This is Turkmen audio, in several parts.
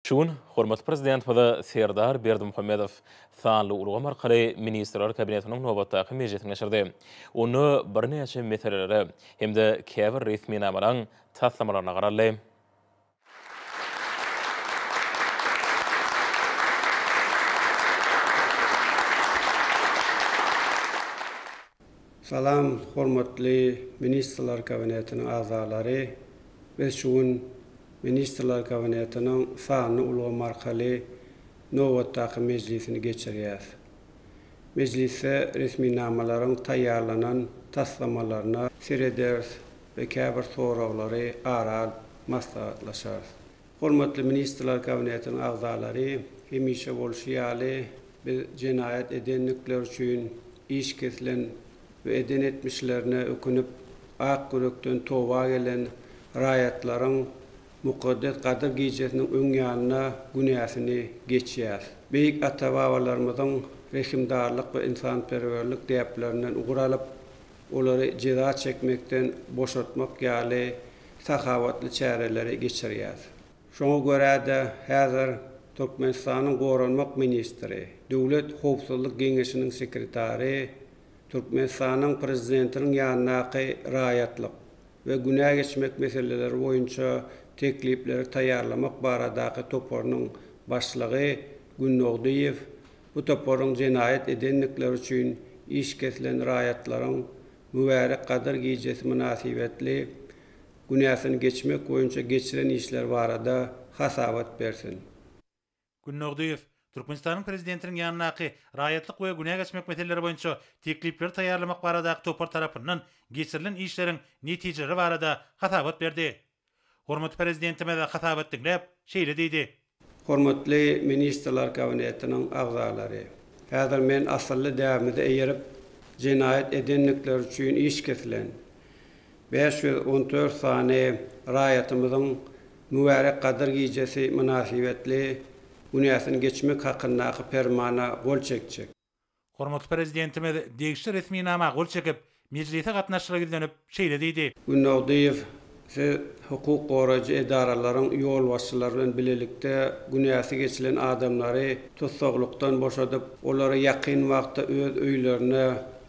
Şu gün hormatly Prezidentimize Serdar Berdimuhamedow sanly ulgam arkaly Ministrler Kabinetiniň nobatdaky mejlisini geçirdi. Onda birnäçe meselelere hem-de käbir resminamalaryň taslamalaryna garaldy. Salam hormatly Ministrler Kabinetiniň agzalary! Biz şu gün Ministrler Kabinetiniň sanly ulgam arkaly nobatdaky mejlisini geçirýäs. Mejlisde resminamalaryň taýýarlanan taslamalaryna serederis we käbir soraglary ara alyp maslahatlaşarys. Hormatly Ministrler Kabinetiniň agzalary, hemişe bolşy ýaly, biz jenaýat edendikleri üçin iş kesilen we eden etmişlerine ökünip, ak ýürekden toba gelen raýatlaryň mukaddes Gadyr gijesiniň öň ýanynda günäsini geçýäs. Beýik ata-babalarymyzyň rehimdarlyk we ynsanperwerlik däplerinden ugur alyp, olary jeza çekmekden boşatmak ýaly sahawatly çäreleri geçirýär. Şoňa görä-de, häzir Türkmenistanyň Goranmak ministri, Döwlet howpsuzlyk geňeşiniň sekretary Türkmenistanyň Prezidentiniň ýanyndaky raýatlyk we günä geçmek meseleleri boýunça teklipleri taýýarlamak baradaky toparynyň başlygy Günnogdyýew bu toparyň jenaýat edendikleri üçin iş kesilen raýatlaryň mübärek Gadyr gijesi mynasybetli günäsini geçmek boýunça geçiren işleri barada hasabat bersin. Gün Nurdyýew Türkmenistanyň Prezidentiniň ýanyndaky Raýatlyk we günä geçmek meseleleri boýunça teklipleri taýýarlamak baradaky topar tarapyndan geçirilen işleriň netijeleri barada hasabat berdi. Hormatly Prezidentimiz hasabat diňläp, şeýle diýdi. Hormatly Ministrler Kabinetiniň agzalary! Häzir men asylly däbimize eýerip, jenaýat edendikleri üçin iş kesilen bäş ýüz on dört sany raýatymyzyň mübärek Gadyr gijesi mynasybetli günäsini geçmek hakyndaky Permana gol çekjek. Hormatly Prezidentimiz degişli resminama gol çekip, mejlise gatnaşyjylara ýüzlenip, şeýle diýdi. Günnogdyýew, siz hukuk goraýjy edaralaryň ýolbaşçylary bilen bilelikde günäsi geçilen adamlary tussaglykdan boşadyp, olary ýakyn wagtda öz öýlerine,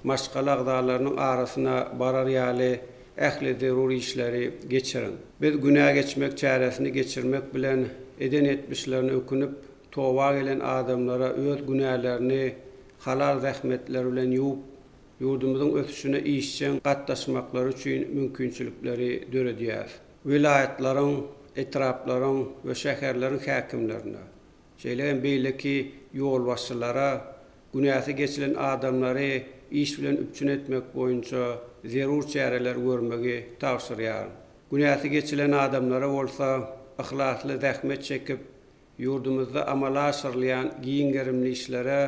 maşgala agzalarynyň arasyna barar ýaly ähli zerur işleri geçiriň. Biz günä geçmek çäresini geçirmek bilen, eden etmişlerine ökünip, Toba gelen adamlara öz günälerini halal zähmetleri bilen ýuwup, ýurdumyzyň ösüşine işjeň gatnaşmaklary üçin mümkinçilikleri döredýäris. Welaýatlaryň, etraplaryň we şäherleriň häkimlerine, şeýle hem beýleki ýolbaşçylara günäsi geçilen adamlary iş bilen üpjün etmek boýunça zerur çäreleri görmegi tabşyrýaryn. Günäsi geçilen adamlara bolsa, yhlasly zähmet çekip, ýurdumyzda amala aşyrylýan giň gerimli işlere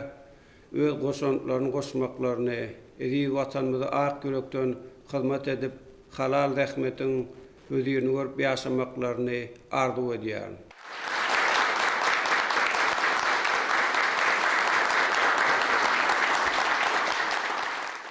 öz goşantlaryny goşmaklaryny, eziz Watanymyza ak ýürekden hyzmat edip, halal zähmetiň hözirini görüp ýaşamaklaryny arzuw edýärin.